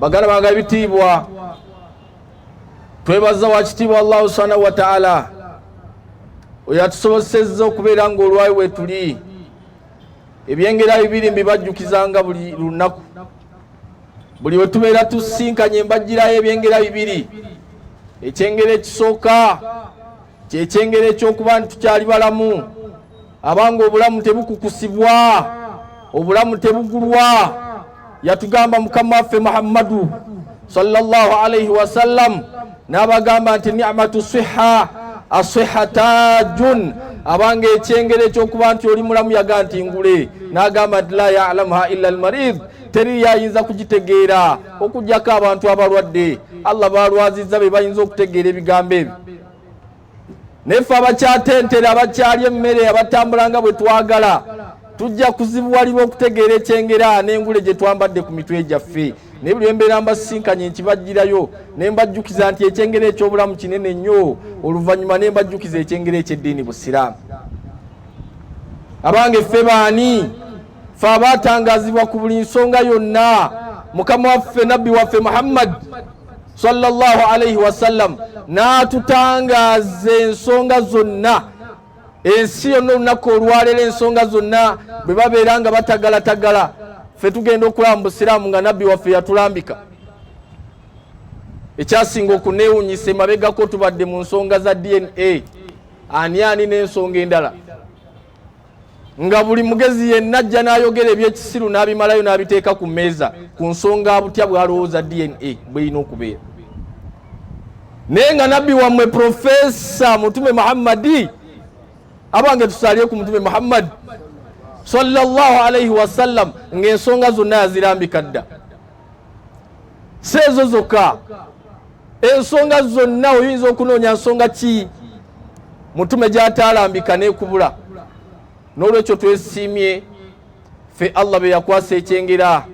bagala baga ebitiibwa twebaza wakitiibwa allahu subhanahu wataala oyo atusobosezza okubeera nga olwayi wetuli ebyengera bibiri mbibajjukizanga buli lunaku buli wetubeera tusinkanye mbajjirayo ebyengera bibiri ekyengera ekisooka kyekyengera ekyokuba nti tukyali balamu abanga obulamu tebukukusibwa obulamu tebugulwa yatugamba mukama waffe muhammadu salllah alaihi wasallam n'abagamba nti nimatu siha asiha tajun abanga ekyengera ekyokuba nti oli mulamu yaga nti ngule n'agamba nti la yalamuha illa almarid teri yayinza kugitegeera okugyako abantu abalwadde allah balwazizza be bayinza okutegeera ebigambo ebyo nefe abakyatentera abakyali emmere abatambula nga bwe twagala tujja kuzibuwalibwa okutegeera ekyengera n'engule gye twambadde ku mitwe gyaffe naye buli embeera mbasisinkanye nkibajjirayo ne mbajjukiza nti ekyengera eky'obulamu kinene nnyo oluvannyuma ne mbajjukiza ekyengera eky'eddiini busiraamu abange ffe baani fe abaatangazibwa ku buli nsonga yonna mukama waffe nabbi waffe muhammad sallallahu alaihi wasallam n'atutangaaza ensonga zonna ensi yonna olunaku olwaleero ensonga zonna bwe babeera nga batagalatagala fe tugenda okulaba mu busiraamu nga nabbi waffe yatulambika ekyasinga okunewunyisa emabegako tubadde mu nsonga za dna ani ani n'ensonga endala nga buli mugezi yenna ajja n'ayogera ebyekisiru n'abimalayo n'abiteeka ku mmeeza ku nsonga butya bw'alowooza dna bwerina okubeera naye nga nabbi wammwe profesa mutume muhammadi abange tusalire ku mutume muhammadi sallallahu alaihi wasallam ng'ensonga zonna yazirambika dda si ezo zokka ensonga zonna oyinza okunoonya nsonga ki mutume gyataalambika nekubula n'olwekyo twesiimye ffe allah be yakwasa ekyengera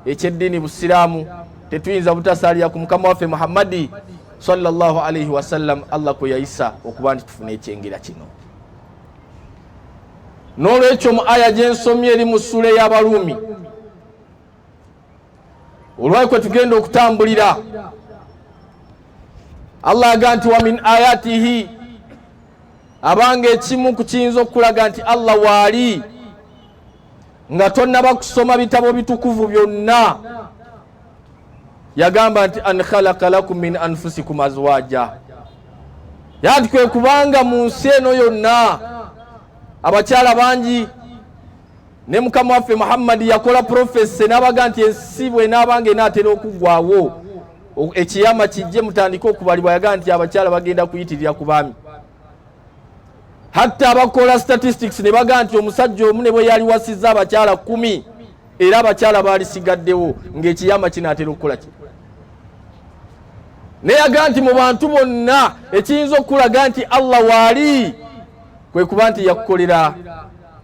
ekyeddiini busiraamu tetuyinza butasaalira ku mukama waffe muhammadi salllahu alaihi wasallam allah kwe yayisa okuba nti tufune ekyengera kino n'olwekyo mu aya gyensomye eri mu ssuula ey'abaruumi olwayi kwe tugenda okutambulira allah aga nti wa min ayatihi abanga ekimu ku kiyinza okukulaga nti allah waali nga tonnaba kusoma bitabo bitukuvu byonna yagamba nti an khalaka lakum min anfusikum azwaja yanti kwe kubanga mu nsi eno yonna abakyala bangi ne mukama waffe muhammadi yakola profese n'abaga nti ensi bwenaabanga enaatera okuggwawo ekiyama kijje mutandike okubalibwa yaga nti abakyala bagenda kuyitirira ku baami hatta abakola statistics ne baga nti omusajja omu ne bwe yali wasizza abakyala kumi era abakyala baalisigaddewo ng'ekiyama kinaatera okukola ki naye yaga nti mu bantu bonna ekiyinza okukulaga nti allah waali kwe kuba nti yakukolera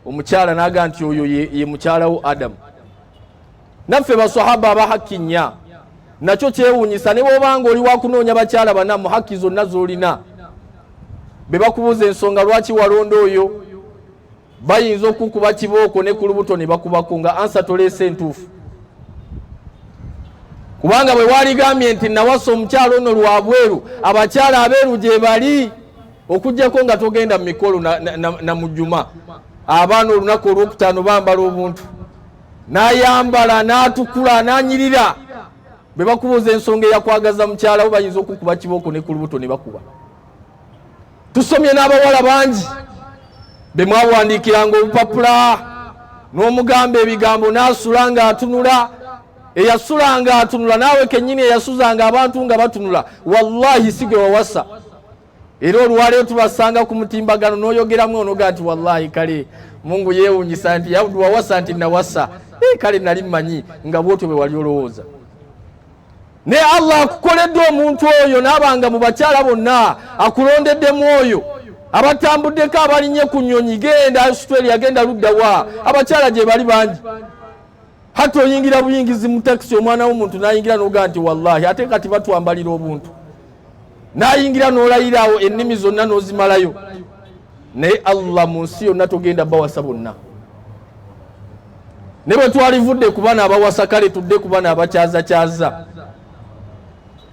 omukyala naga nti oyo ye mukyalawo adamu naffe basahaba abahakki nnya nakyo kyewunyisa ne bwobanga oli wakunoonya bakyala bana mu hakki zonna zolina be bakubuuza ensonga lwaki walonda oyo bayinza okukuba kibooko ne ku lubuto ne bakubako nga ansa toleesa entuufu kubanga bwe waligambye nti nawasa omukyala ono lwabweru abakyala abeeru gye bali okujjako nga togenda mu mikolo na mujuma abaana olunaku olwokutaano bambala obuntu nayambala natukula nanyirira bwe bakubuuza ensonga eyakwagaza mukyalawo bayinza okukuba kibooko ne ku lubuto ne bakuba tusomye n'abawala bangi be mwawandiikiranga obupapula n'omugamba ebigambo n'asula nga atunula eyasula nga atunula naawe kennyini eyasuzanga abantu nga batunula wallahi si gwe wawasa era olwaleero tubasanga ku mutimbagano n'oyogeramu onoga nti wallahi kale mungu yeewunyisa nti wawasa nti nawasa eh, kale nali mmanyi nga bwotyo bwe wali olowooza naye allah akukoledde omuntu oyo naabanga mu bakyala bonna akulondeddemu oyo abatambuddeko abalinye ku nyonyi genda australia genda luddawa abakyala gye bali bangi hati oyingira buyingizi mu takisi omwana w'omuntu nayingira noga nti wallahi ate kati batwambalira obuntu nayingira nolayiraawo ennimi zonna nozimalayo naye allah mu nsi yonna togenda bawasa bonna ne bwe twalivudde ku bana abawasa kale tudde ku bana abakyazakyaza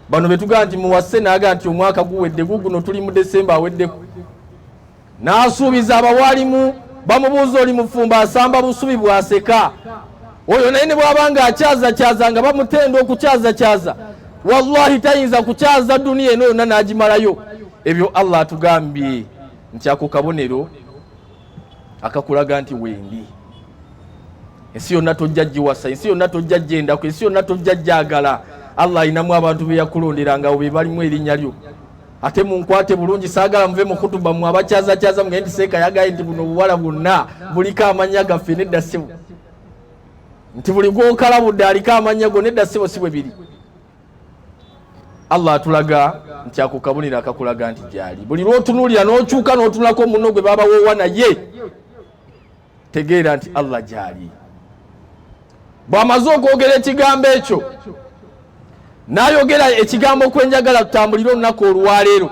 bano betugaa nti muwase naga nti omwaka guwedde guguno tuli mu desemba aweddeko n'asuubiza abawalimu bamubuuza oli mufumbo asamba busubi bwaseka oyo naye ne bwaba nga akyazakyaza nga bamutenda okukyazakyaza wallahi tayinza kukyaza duniya eno yonna n'agimalayo ebyo allah atugambye nti ako kabonero akakulaga nti wendi ensi yonna tojja giwasa ensi yonna tojja gyendaku ensi yonna tojja gyagala allah alinamu abantu beyakulonderanga abo bebalimu erinnya lyo ate munkwate bulungi saagala muve mu khutuba mwe abakyazakyaza mugende seeka yagaye nti buno obuwala bwonna buliko amannya gaffe nedda sibu nti buli gwokalabudde aliko amannya go nedda sibo si bwe biri allah atulaga nti ako kabonero akakulaga nti gyali buli lwotunuulira n'okyuka n'otunulako muno gwe baabawoowa naye tegeera nti allah gyali bw'amaze okwogera ekigambo ekyo n'ayogera ekigambo kwenjagala tutambulire olunaku olwaleero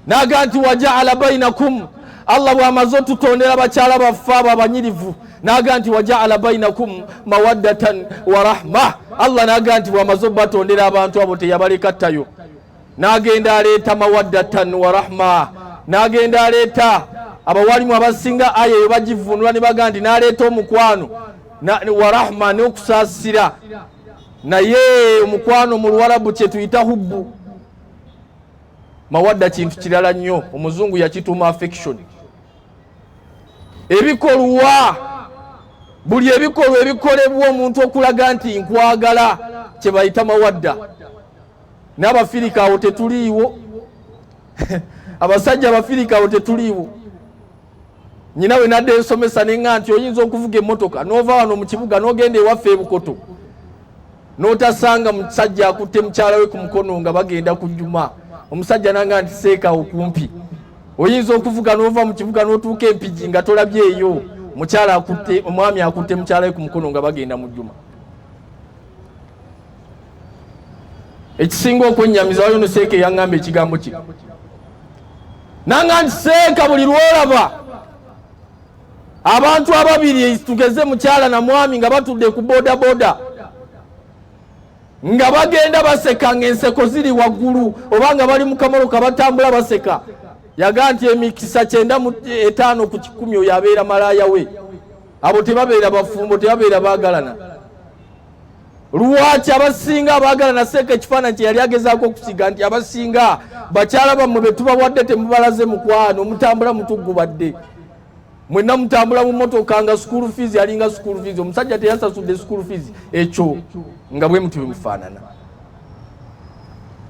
naga nti wajaala bainakum allah bw'amaze otutondera bakyala baffe abo abanyirivu naga nti wajaala bainakum mawaddatan wa rahma allah naga nti bw'amaze obatondera abantu abo teyabaleka ttayo n'agenda aleeta mawaddatan wa rahma n'agenda aleeta abawalimu abasinga aya eyo bagivunula ne baga nti n'aleeta omukwano wa rahma n'okusaasira naye omukwano mu luwarabu kye tuyita hubbu mawadda kintu kirala nnyo omuzungu yakituuma affection ebikolwa buli ebikolwa ebikolebwa omuntu okulaga nti nkwagala kye bayita mawadda n'abafirika awo tetuliiwo abasajja abafirika awo tetuliiwo nyina we nadde nsomesa nenga nti oyinza okuvuga emmotoka n'ova wano mu kibuga n'ogenda ewaffe ebukoto n'otasanga musajja akutte mukyala we ku mukono nga bagenda ku juma omusajja nanga nti seeka okumpi oyinza okuvuga n'ova mu kibuga n'otuuka empigi nga tolabyeeyo mukyala akutte omwami akutte mukyala we ku mukono nga bagenda mu juma ekisinga okwennyamiza wayo noseeka eyaŋŋamba ekigambo kino nanga nti seeka buli lwolaba abantu ababiri tugeze mukyala na mwami nga batudde ku bodaboda nga bagenda baseka nga enseko ziri waggulu oba nga bali mu kamoloka batambula baseka yaga nti emikisa kyenda mu etaano ku kikumi oyo abeera malaaya we abo tebabeera bafumbo tebabeera baagalana Lwaki abasinga abaagala naseeka ekifaananyi kye yali agezaako okusiga nti abasinga bakyala bammwe be tubawadde temubalaze mukwano mutambula mutuggubadde mwenna mutambula mu motoka nga school fees yalinga school fees omusajja teyasasudde school fees ekyo nga bwe muti bwemufaanana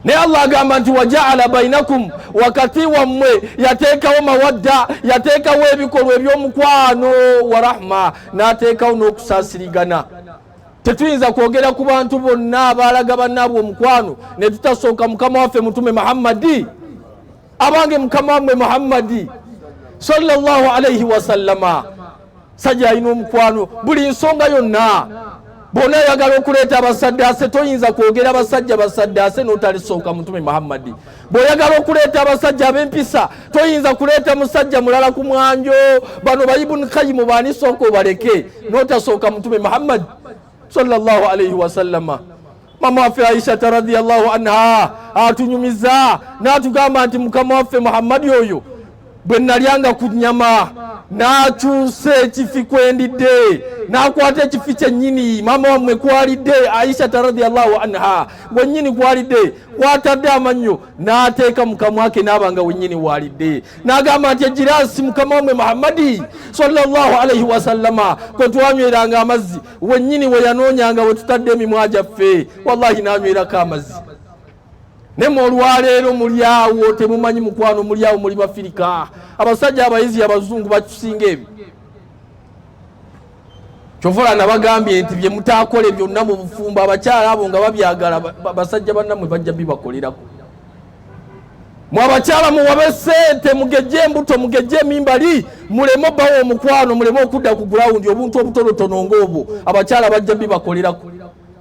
naye allah agamba nti wajaala bainakum wakati wammwe yateekawo mawadda yateekawo ebikolwa ebyomukwano warahma n'ateekawo n'okusaasirigana tetuyinza kwogera ku bantu bonna abaalaga bannaabwe omukwano ne tutasooka mukama waffe mutume muhammadi abange mukama wamwe muhammadi salllah alaihi wasallama sajja alina omukwano buli nsonga yonna bona ayagala okuleeta abasaddaase toyinza kwogera basajja basaddaase n'otalisooka mutume muhammadi bw'oyagala okuleeta abasajja ab'empisa toyinza kuleeta musajja mulala ku mwanjo bano bayibuni kayimu baani sooka obaleke n'otasooka mutume muhammadi sallallahu alaihi wasallama mama waffe aishata radiallahu anha atunyumiza n'atugamba nti mukama waffe muhammadi oyo bwe nalyanga ku nnyama n'akyusa ekifi kwendidde n'akwata ekifi kyennyini maama wammwe kwalidde aishata radiallahu anha wennyini kwalidde kwatadde amannyo n'ateeka mukamwa ke n'aba nga wennyini waalidde n'agamba nti egiraasi mukama wammwe muhammadi salllahu alaihi wasallama kwe twanyweranga amazzi wennyini we yanoonyanga we tutadde emimwa gyaffe wallahi n'anywerako amazzi naye mwe olwaleero muli awo temumanyi mukwano muli awo muli bafirika abasajja abayizi abazungu bakisinga ebyo kyovola nabagambye nti byemutakole byonna mu bufumbo abakyala abo nga babyagala basajja bannamwe bajja bibakolerako mwe abakyala muwabe sente mugejje embuto mugejje emimbali muleme bawo omukwano muleme okudda ku gulawundi obuntu obutonotono ngaobwo abakyala bajja bibakolerako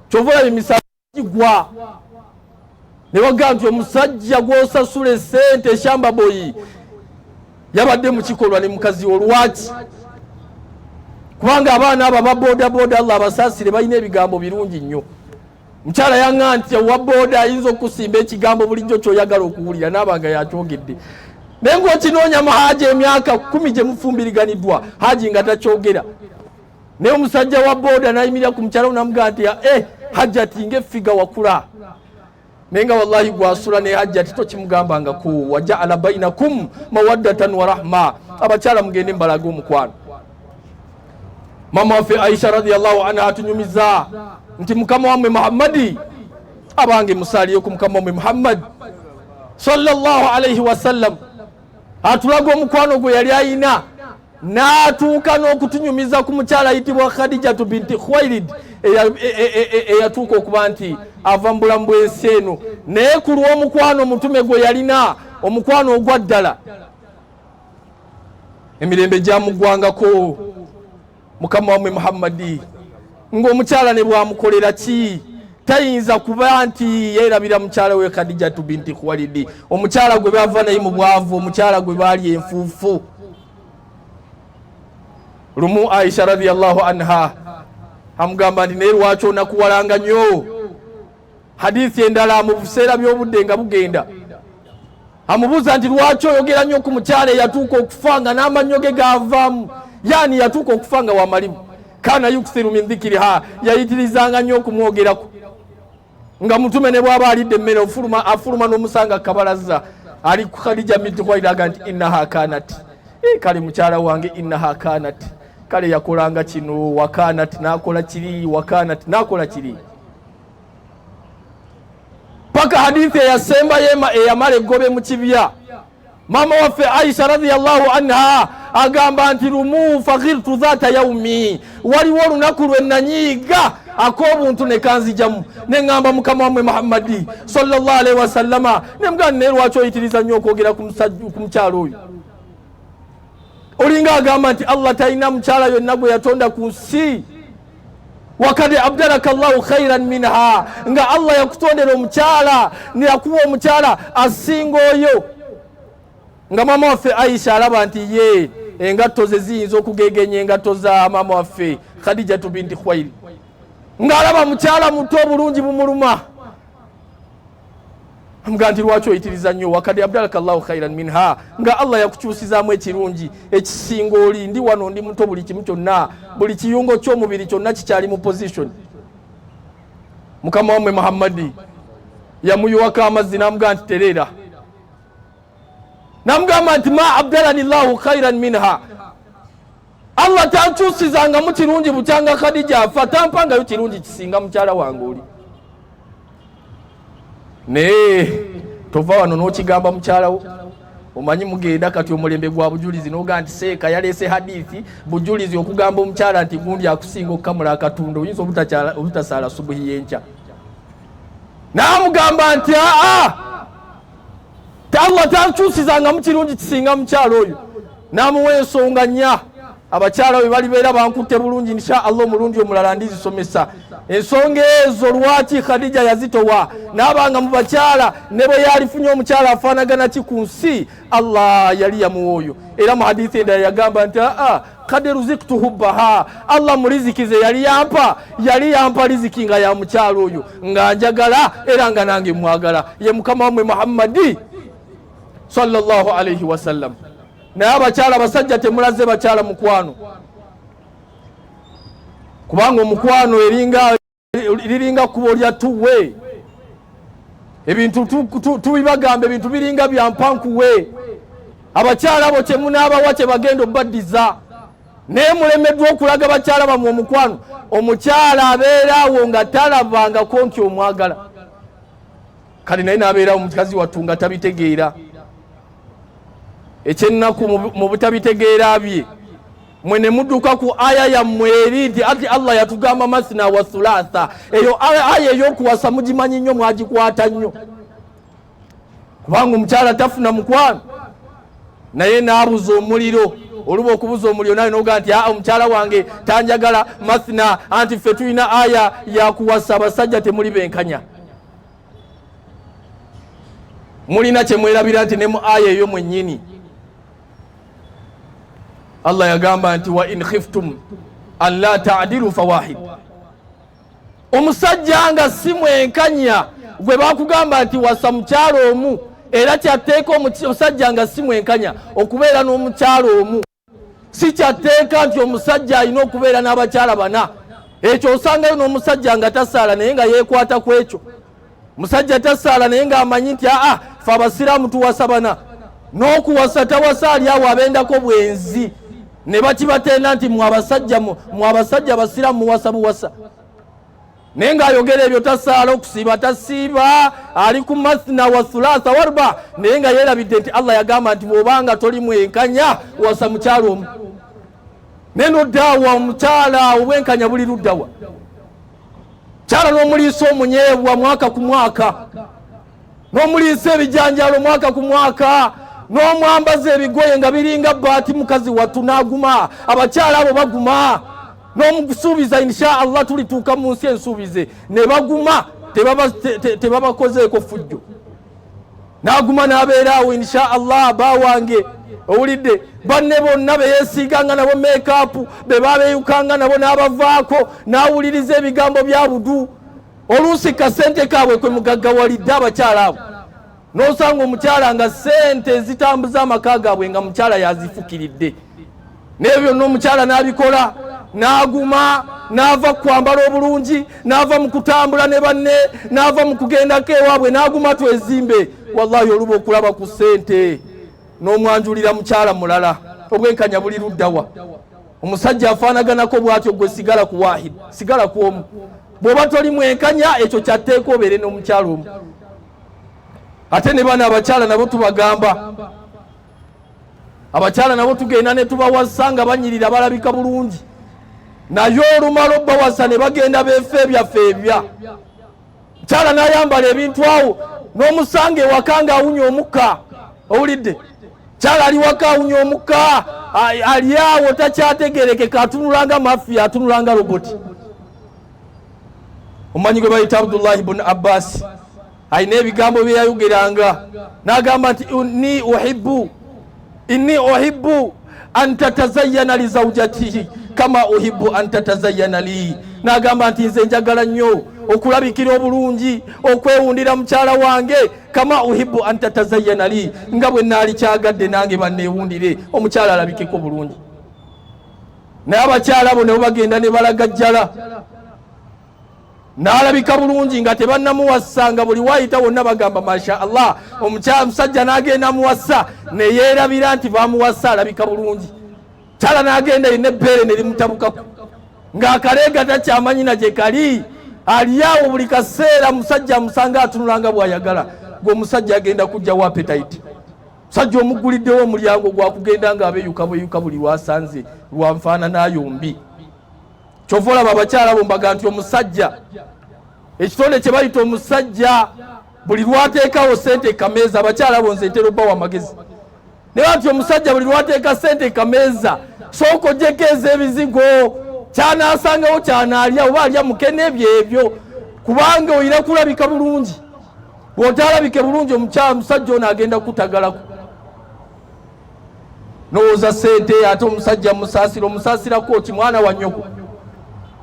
kyovola bimisaa kigwa ne bagamba nti omusajja gw'osasula esente eshamba boyi yabadde mu kikolwa ne mukazi wo lwaki kubanga abaana abo aba bodaboda allah abasaasire balina ebigambo birungi nnyo mukyala yanga nti owa boda ayinza okusimba ekigambo bulijjo kyoyagala okuwulira naabanga yakyogedde naye ngaokinoonya mu haaji emyaka kumi gye mufumbiriganiddwa haaji nga takyogera naye omusajja wa boda nayimirira ku mukyala namugaa nti eh, hajjati nga efiga wakula naye nga wallahi gwasula ne hajjati tokimugambangako wajaala bainakum mawaddatan warahma abakyala mugende mbalaga omukwano mama waffe aisha radiallahu anha atunyumiza nti mukama wamwe muhammadi abange musaliyo ku mukama wamwe muhammadi sallallahu alaihi wasallam atulaga omukwano gwe yali ayina n'atuuka n'okutunyumiza ku mukyala ayitibwa khadijatu binti khwairid eyatuuka e, e, e, okuba nti ava mu bulamu bw'ensi eno naye ku lw'omukwano omutume gwe yalina omukwano ogwa ddala emirembe gyamuggwangako mukama wamwe muhammadi ng'omukyala ne bwamukolera ki tayinza kuba nti yeerabira mukyala we khadijatu binti khuwalidi omukyala gwe bava naye mu bwavu omukyala gwe baali enfuufu lumu aisha radiallahu anha amugamba nti naye lwaki onakuwalanga nyo hadithi endala mu buseera by'obudde nga bugenda amubuuza nti lwaki oyogera nnyo ku mukyala eyatuuka okufa nga n'amannyo ge gaavaamu yaani yatuuka okufa nga wamalimu kana yukthiru min dhikiriha yayitirizanga nnyo okumwogerako nga mutume ne bwaba alidde emmere ofuluma afuluma n'omusanga kabalazza ali ku khadija binti khwairaga nti innaha kanat e, kale mukyala wange innaha kanat kale yakolanga kino wakanat nakola kiri wakanat nakola kiri paka hadithi eyasembayo eyamala eggobe mu kibya maama waffe aisha radiallahu anha agamba nti lumu fakhirtu dhata yaumi waliwo olunaku lwe nanyiiga ak'obuntu ne kanzijamu ne ŋŋamba mukama wamwe muhammadi sallallahu alaihi wasallama ne mugana naye lwaki oyitiriza nnyo okwogera ku mukyalo oyo olinga agamba nti allah talina mukyala yonna gwe yatonda ku nsi wakad abdalaka llahu khairan minha nga allah yakutondera omukyala neyakuwa omukyala asinga oyo nga maama waffe aisha alaba nti ye engatto ze ziyinza okugegenya engatto za maama waffe khadijatu binti khwairi ng'alaba mukyala muto obulungi bumuluma amugaa nti lwaki oyitiriza nnyo wakad abdalaka llahu khairan minha nga allah yakukyusizaamu ekirungi ekisinga oli ndi wano ndi muto buli kimu kyonna buli kiyungo ky'omubiri kyonna kikyali mu position mukama wammwe muhammadi yamuyiwako amazzi n'amugaa nti tereera namugamba nti ma abdalani llahu khairan minha Allah tankyusizangamu kirungi bukyanga Khadija afa tampangayo kirungi kisinga mukyala wange oli naye tova wano n'okigamba mukyalawo omanyi mugenda kati omulembe gwa bujulizi noga nti seeka yaleese hadithi bujulizi okugamba omukyala nti gundi akusinga okukamula akatunda oyinza obutasaala subuhi yenkya naamugamba nti aa allah takyusizangamu kirungi kisinga mukyalo oyo namuwa ensonga nya abakyala bwe balibeera bankutte bulungi insha allah omulundi omulala ndizisomesa ensonga ezo lwaki khadija yazitowa naabanga mu bakyala ne bwe yalifunye omukyala afaanagana ki ku nsi allah yali yamuwa oyo era mu hadithi endala yagamba nti aa kad ruziktuhu baha allah mulizikize yali yampa yali yampa liziki nga ya mukyalo oyo nga njagala era nga nange mwagala ye mukama wamwe muhammadi salllah alaihi wasallam naye abakyala basajja temulaze bakyala mukwano kubanga omukwano eringa liringa kkubo lya tuwe ebintu tubibagamba ebintu biringa byampankuwe abakyala abo kyemunaabawa kyebagenda obaddiza naye mulemeddwa okulaga bakyala bamwe omukwano omukyala abeera awo nga talabangako nti omwagala kale naye nabeerawo mukazi wattu nga tabitegeera ekyennaku mu butabitegeera bye mwe ne muduka ku aya yammwe eri nti ati allah yatugamba masina wa thulatha eyo aya eyokuwasa mugimanyi nnyo mwagikwata nnyo kubanga omukyala tafuna mukwano naye naabuza omuliro oluba okubuza omuliro naye noga nti aa omukyala wange tanjagala mathina anti ffe tulina aya yakuwasa abasajja temuli benkanya mulina kyemwerabira nti ne mu aya eyo mwennyini allah yagamba nti wa in khiftum an la tadilu fawahid omusajja nga si mwenkanya gwe bakugamba nti wasa mukyalo omu era kyatteeka omusajja nga si mwenkanya okubeera n'omukyalo omu si kyatteeka nti omusajja alina okubeera n'abakyala bana ekyo osangayo n'omusajja nga tasaala naye nga yeekwata ku ekyo musajja tasaala naye ng'amanyi nti aa fe abasiraamu tuwasa bana n'okuwasa tawasa ali awo abendako bwenzi ne bakibatenda nti mwe abasajja mwe abasajja abasiraamu muwasa buwasa naye ng'ayogera ebyo tasaala okusiiba tasiiba ali ku mathna wa thulatha warba naye nga yeerabidde nti allah yagamba nti bw'obanga toli mwenkanya wasa mukyalo omu naye noddaawa omukyala obwenkanya buli luddawa kyala n'omuliisa omunyeebwa mwaka ku mwaka n'omuliisa ebijanjaalo mwaka ku mwaka n'omwambaza ebigoye nga biringa baati mukazi wattu n'aguma abakyala abo baguma n'omusuubiza insha allah tulituuka mu nsi ensuubize ne baguma tebabakozeeko fujjo n'aguma n'abeeraawo insha allah aba wange owulidde banne bonna beyesiiganga nabo meekaapu be baabeyukanga nabo n'abavaako n'awuliriza ebigambo bya budu oluusi kasente kaabwe kwe mugaggawalidde abakyala abo n'osanga omukyala nga sente ezitambuza amaka gaabwe nga mukyala yazifukiridde naye byonna omukyala n'abikola n'aguma n'ava ku kwambala obulungi n'ava mu kutambula ne banne n'ava mu kugendako ewaabwe n'aguma twezimbe wallahi oluba okulaba ku sente n'omwanjulira mukyala mulala obwenkanya buli luddawa omusajja afaanaganako bwatyo gwe sigala ku wahid sigala ku omu bwoba toli mwenkanya ekyo kyatteeka obeere n'omukyalo omu ate ne bana abakyala nabo tubagamba abakyala nabo tugenda ne tubawasa nga banyirira balabika bulungi naye olumala obbawasa ne bagenda beefa ebyaffe ebya mukyala n'ayambala ebintu awo n'omusanga ewaka nga awunya omukka owulidde mukyala ali waka awunya omukka ali awo takyategerekeka atunulanga mafiya atunulanga roboti omumanyi gwe bayita abdullahi bun abbasi alina ebigambo byeyayogeranga n'agamba nti ni uhibu inni uhibbu an tatazayana li zaujatihi kama uhibbu an tatazayana li nagamba nti nze njagala nnyo okulabikira obulungi okwewundira mukyala wange kama uhibbu an tatazayana li nga bwe naali kyagadde nange banneewundire omukyala alabikeko bulungi naye abakyala abo nabo bagenda ne balagajjala n'alabika bulungi nga tebannamuwassa nga buli waayita wonna bagamba masha allah omusajja n'agenda amuwassa ne yeerabira nti bamuwassa alabika bulungi kyala n'agenda yina ebbeere ne limutabukaku ng'akaleega takyamanyi na gye kali aliawo buli kaseera musajja amusanga atunula nga bw'ayagala gwe omusajja agenda kujja wa apetite musajja omugguliddewo omulyango gwakugenda ng'abeyuka bweyuka buli lwasanze lwanfaananayombi kyova olaba abakyala bo mbaga nti omusajja ekitonde kye bayita omusajja buli lwateekawo sente kameeza abakyala bo nze ntera obbawo amagezi naye bati omusajja buli lwateeka sente kameeza sooka ojeko ez'ebizigo kyanaasangawo kyanaalya oba alya mukene ebyo ebyo kubanga oyina kulabika bulungi bw'otaalabike bulungi omusajja ono agenda kutagalako nowooza sente ate omusajja musaasira omusaasirako ki mwana wa nyoko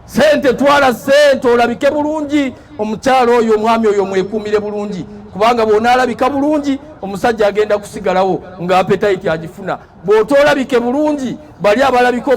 sente twala sente olabike bulungi omukyalo oyo omwami oyo mwekuumire bulungi kubanga bwonaalabika bulungi omusajja agenda kusigalawo nga apetayiti agifuna bw'otoolabike bulungi bali abalabika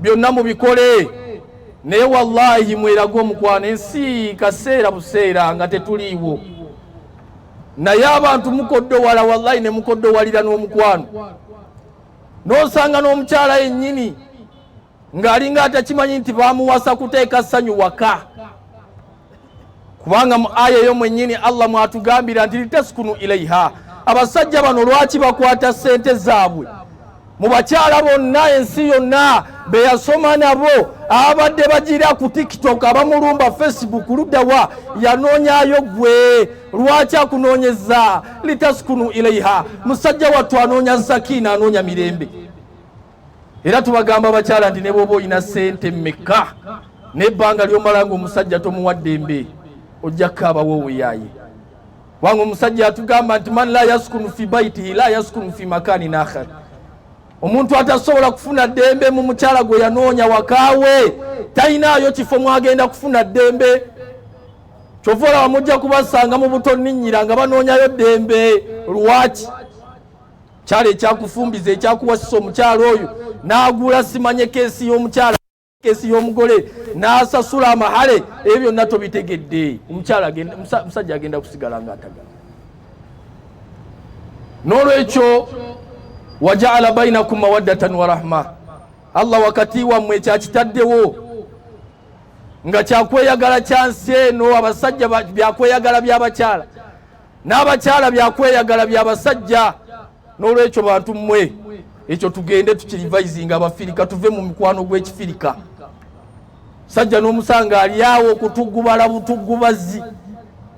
byonna mubikole naye wallahi mwerage omukwano ensi kaseera buseera nga tetuliiwo naye abantu mukoddowala wallahi ne mukoddowalira n'omukwano n'osanga n'omukyala yennyini ng'alinga atakimanyi nti bamuwasa kuteeka ssanyu waka kubanga mu aya eyo mwennyini allah mwatugambira nti litaskunu ilaiha abasajja bano lwaki bakwata sente zaabwe mu bakyala bonna ensi yonna beyasoma nabo abadde bagira ku tiktok abamulumba facebook luddawa yanoonyayo gwe lwaki akunoonyeza litaskunu ilaiha musajja wattu anoonya sakina anoonya mirembe era tubagamba abakyala nti ne bwoba olina sente mekka nebbanga lyomala nga omusajja tomuwadde mbe ojja kukaabawo oweyaaye kubanga omusajja atugamba nti man la yaskunu fi baitihi la yaskunu fi makani nakhar omuntu atasobola kufuna ddembe mu mukyala gwe yanoonya wakaawe talinaayo kifo mwagenda kufuna ddembe kyova olaba mujja kubasanga mu buto ninyira nga banoonyayo ddembe lwaki kyalo ekyakufumbiza ekyakuwasisa omukyalo oyo n'agula simanye keesi y'omukyalo kesi y'omugole n'asasula amahale ebyo byonna tobitegedde omukyala musajja agenda kusigala nga atagala n'olwekyo wajaala bainakum mawaddatan wa rahma allah wakati wammwe ekyakitaddewo nga kyakweyagala kyansi eno abasajja byakweyagala by'abakyala n'abakyala byakweyagala bya basajja n'olwekyo bantu mmwe ekyo tugende tukirivayizinga abafirika tuve mu mikwano gw'ekifirika sajja n'omusanga alyawo okutugubala butugubazi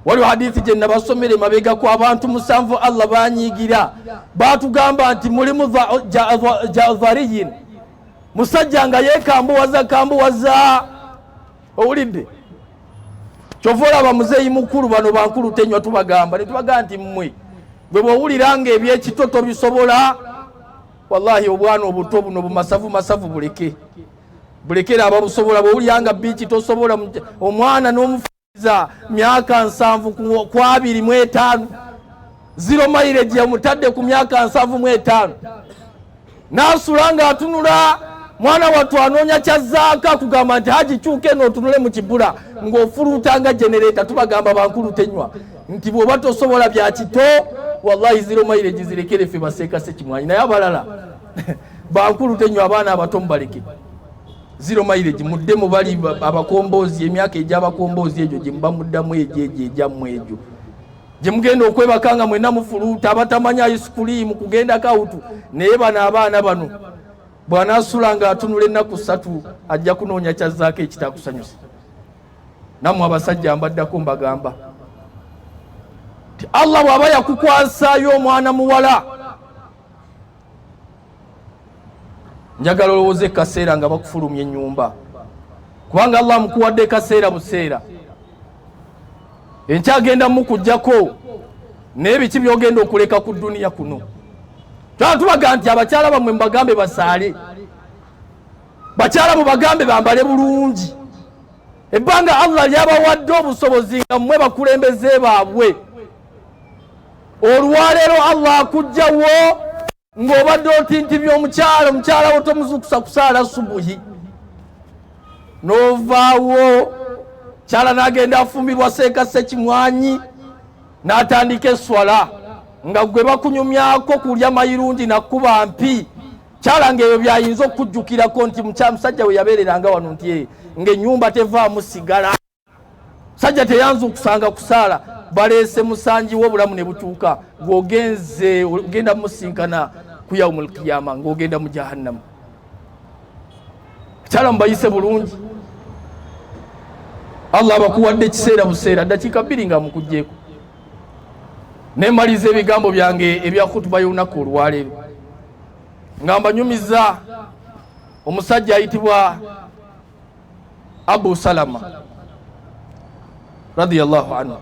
waliwo hadithi gye nabasomere mabega ku abantu musanvu allah banyiigira baatugamba nti mulimu jazariyin musajja nga yeekambuwaza kambuwaza owulidde kyova olaba muzeeyi mukulu bano bankulu tenywa tubagamba netubagamba nti mmwe gwe bwowulira nga ebyekito tobisobola wallahi obwana obuto buno bumasavu masavu buleke bulekera ababusobola bwowulira nga biiki tosobola omwana n'omufuiza myaka nsanvu ku abiri mu etaano zero mileage yamutadde ku myaka nsanvu mu etaano naasula nga atunula mwana wattu anoonya kyazzaaka kugamba nti haji kyuka eno otunule mu kibula ng'ofuluutanga genereeta tubagamba bankulu tenywa nti bw'oba tosobola bya kito wallahi zero mileage zirekere ffe baseeka sekimwanyi naye abalala bankulu tenywa abaana abato mubaleke zero mileage mudde mu bali abakomboozi emyaka egy'abakomboozi egyo gye muba muddamu egyo egyo egyammwe egyo gye mugenda okwebaka nga mwena mufuluuta abatamanyi ayisikuliimu kugenda kawutu naye bano abaana bano bw'anaasula nga atunula ennaku ssatu ajja kunoonya kyazzaako ekitakusanyusa nammwe abasajja mbaddako mbagamba ti allah bw'aba yakukwasayo omwana muwala njagala olowooza ekaseera nga bakufulumya enyumba kubanga allah amukuwadde ekaseera buseera enkyagenda mukujjako naye biki byogenda okuleka ku duniya kuno twala tubaga nti abakyala bamwe mubagambe basaale bakyala mubagambe bambale bulungi ebbanga allah lyabawadde obusobozi nga mwe bakulembeze baabwe olwaleero allah akujjawo ng'obadde otintimya omukyala omukyala wo tomuzukusa kusaala subuhi n'ovaawo kyala n'agenda afumbirwa seeka sekimwanyi n'atandika eswala nga gwe bakunyumyako kulya mayirungi nakuba mpi kyala ngaebyo byayinza okukujjukirako nti musajja we yabeereranga wano nti eh, ng'enyumba tevaamu sigala sajja teyanza okusanga kusaala baleese musangi wo obulamu ne butuuka ng'ogenze ogenda musinkana ku yaumul qiyama ng'ogenda mu jahannamu akyala mubayise bulungi allah abakuwadde ekiseera buseera ddakiika bbiri nga mukugjeeko nemaliza ebigambo byange ebya khutuba y'olunaku olwaleero nga mbanyumiza omusajja ayitibwa Abu Salama radhiyallahu anhu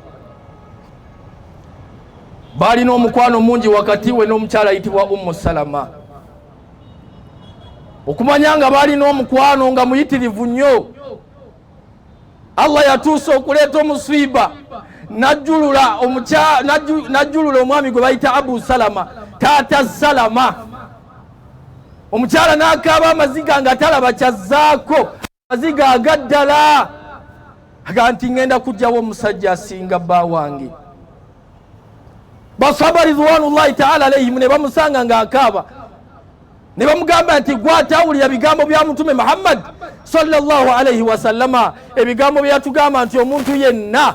baalina omukwano mungi wakati we n'omukyala ayitibwa Ummu Salama okumanya nga baalina omukwano nga muyitirivu nnyo Allah yatuusa okuleeta omusiiba najjulula najjulula omwami gwe bayita Abu Salama taata Salama omukyala n'akaaba amaziga nga talaba kyazzaako amaziga agaddala aga nti ŋŋenda kujjawo omusajja asinga bba wange basaba ridwanullahi taala alaihimu ne bamusanga ng'akaaba ne bamugamba nti gwatawulira bigambo bya mutume muhammadi sallallahu alaihi wasallama ebigambo byeyatugamba nti omuntu yenna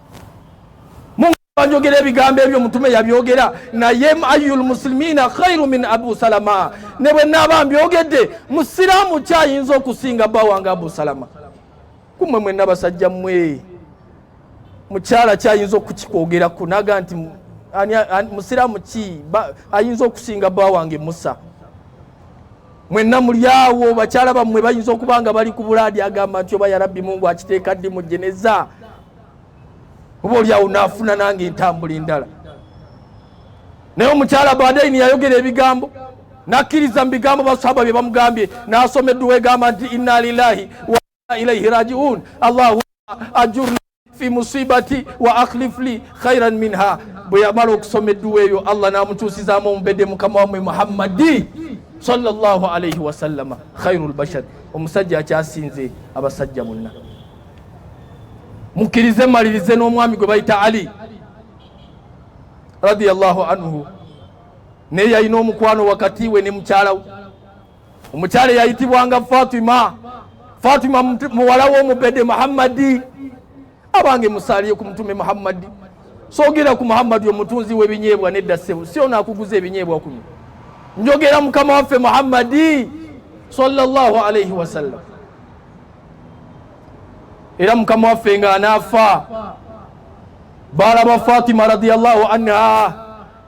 banjogera ebigambo ebyo mutume yabyogera naye ayu lmusilimiina khairu min abu salama ne bwe naaba mbyogedde musiraamu kyayinza okusinga bba wange abu salama kumwe mwenna basajja mmwe mukyala kyayinza okukikwogerako naga nti musiraamu ki ayinza okusinga bba wange musa mwenna mulyawo bakyala bammwe bayinza okuba nga bali ku bulaadi agamba nti oba yarabbi mungu akiteeka ddi mujjeneza oba oli awo naafuna nange entambula endala naye omukyala badaini yayogera ebigambo nakkiriza mu bigambo basahaba bye bamugambye naasoma edduwa egamba nti inna lilahi wa ilaihi rajiun allahu ajurna fi musibati wa akhlif li khairan minha bwe yamala okusoma edduwa eyo allah n'amukyusizaamu omubedde mukama wamwe muhammadi sallallahu alaihi wasallama khairu lbashar omusajja akyasinze abasajja bonna mukkirize mmalirize n'omwami gwe bayita ali radiyallahu anhu naye yalina omukwano wakati we ne mukyala we omukyala eyayitibwanga fatima fatima muwala w'omubede muhammadi abange musaaliye ku mutume muhammadi sogera ku muhammadi omutunzi w'ebinyeebwa nedda ssebo si ono akuguza ebinyeebwa kuno njogera mukama waffe muhammadi sallallahu alaihi wasallam era mukama waffe nga anaafa baalaba fatima radiallahu anha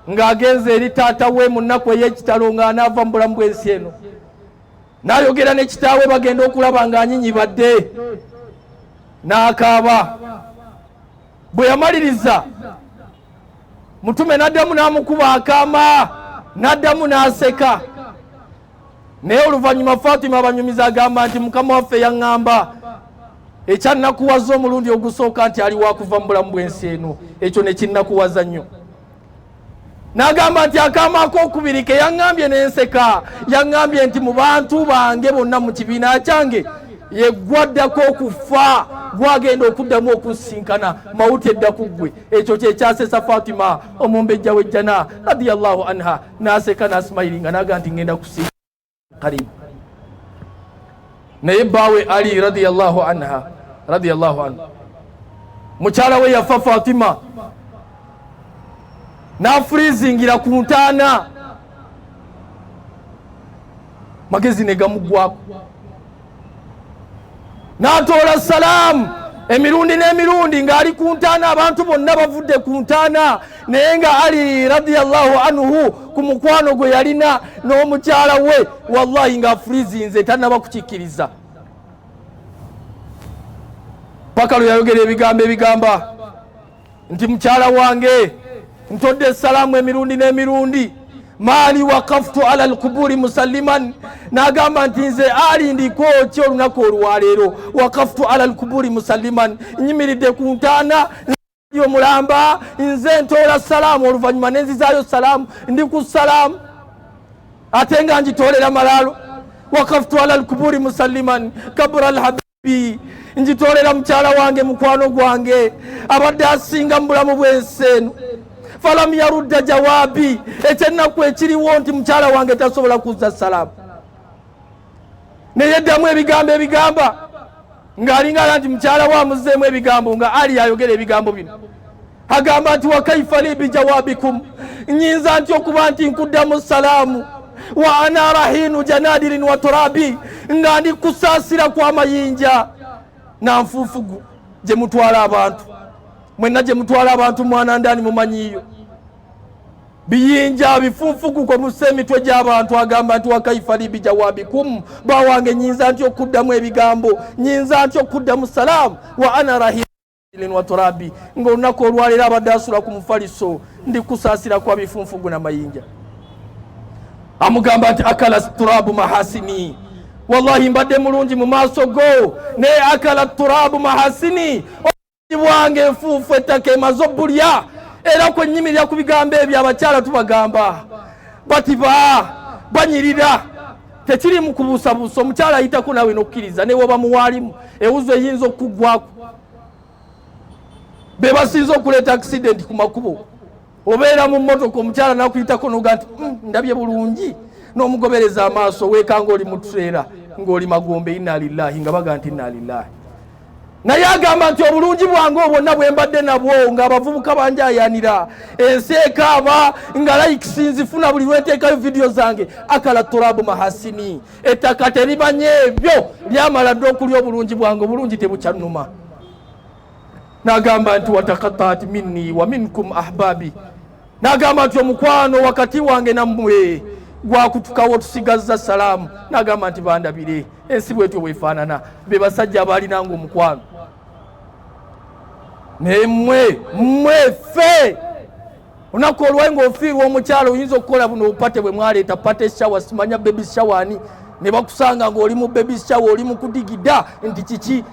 ng'agenze eri taata we mu nnaku ey'ekitalo nga anaava mu bulamu bw'ensi eno n'ayogera ne kitaawe bagenda okulaba ng'anyinyibadde n'akaaba bwe yamaliriza mutume n'addamu n'amukuba akaama n'addamu n'aseka naye oluvannyuma fatima abanyumiza agamba nti mukama waffe yaŋŋamba ekyannakuwaza omulundi ogusooka nti ali wakuva mu bulamu bw'ensi eno ekyo nekinnakuwaza nnyo n'agamba nti akaama akokubiri ke yaŋŋambye n'enseka yaŋŋambye nti mu bantu bange bonna mu kibiina kyange yegwaddako okufa gwagenda okuddamu okusisinkana mawuti edda ku ggwe ekyo kyekyasesa fatima omumbejja w'ejjana radiallahu anha naseka nasimayilinga naga nti ngenda kusi karibu naye bawe ali radiallahu anha radiallahu anhu mukyala we yafa fatima nafurizingira ku ntaana magezi ne gamuggwako n'atoola salaamu emirundi n'emirundi ng'ali ku ntaana abantu bonna bavudde ku ntaana naye nga ali radiallahu anhu ku mukwano gwe yalina n'omukyala we wallahi ng'afurizinze tanaba kukikkiriza paka lwe yayogera ebigambo ebigamba nti mukyala wange ntodde essalaamu emirundi n'emirundi maali wakaftu ala lkuburi musalliman nagamba nti nze ali ndiko ki olunaku olwaleero wakaftu ala lkuburi musalliman nyimiridde ku ntaana omulamba nze ntoola salaamu oluvannyuma nenzizaayo salaamu ndi ku salaamu ate nga ngitoolera malaalo wakaftu ala lkuburi musalliman kabura lhabi bi njitolera mukyala wange mukwano gwange abadde asinga mu bulamu bw'ensi eno falam yarudda jawaabi ekyennaku ekiriwo nti mukyala wange tasobola kuzza salaamu naye ddamu ebigambo ebigamba ng'alinga ala nti mukyala we amuzeemu ebigambo nga ali ayogera ebigambo bino agamba nti wakaifa li bijawabikum nyinza nti okuba nti nkuddamu salaamu wa ana rahinu janadirin wa turabi nga ndi kusaasira kwamayinja na nfuufugu gye mutwala abantu mwenna gye mutwala abantu mwana ndani mumanyiyo biyinja bifuufugu kwe mussa emitwe gy'abantu agamba nti wakaifa li bijawabikum bawange nyinza nti okuddamu ebigambo nyinza nti okuddamu salaamu wa ana rahinu waturabi nga olunaku olwaleero abadde asula ku mufaliso ndi kusaasira kwa bifunfugu na mayinja amugamba nti akala turabu mahasini wallahi mbadde mulungi mu maaso go naye akala turabu mahasini bwange enfuufu ettaka emaze obulya era kwenyimirira ku bigambo ebyo abakyala tubagamba batiba banyirira tekirimu kubuusabuusa omukyala ayitako naawe nokukkiriza newoba muwaalimu ewuzo eyinza okuggwaku be basinza okuleeta akisidenti ku makubo obeera mu mmotoka omukyala nakuyitako noga nti mm, ndabye bulungi n'omugobereza amaaso weekanga oli mu tuseera ng'oli magombe inna lillahi nga baga nti inna lillahi naye agamba nti obulungi bwange obwonna bwe mbadde nabwo ng'abavubuka banjayanira ensi ekaaba nga likes nzifuna buli lwenteekayo vidiyo zange akala turabu mahasini ettaka terimanye ebyo lyamala dda okulya obulungi bwange obulungi tebukyannuma nagamba nti watakataat minni wa minkum ahbaabi Nagamba nti omukwano wakati wange nammwe gwakutukawo tusigazza salaamu. Nagamba nti bandabire ensi bwetyo bwefaanana, be basajja abaalinanga omukwano naye mmwe mmwe ffe olunaku olwali ngaofiirwa omukyalo oyinza okukola buno obupate bwe mwaleeta pate shawa simanya bebi shawani ne bakusanga ng'oli mu bebi shawa oli mu kudigida nti kiki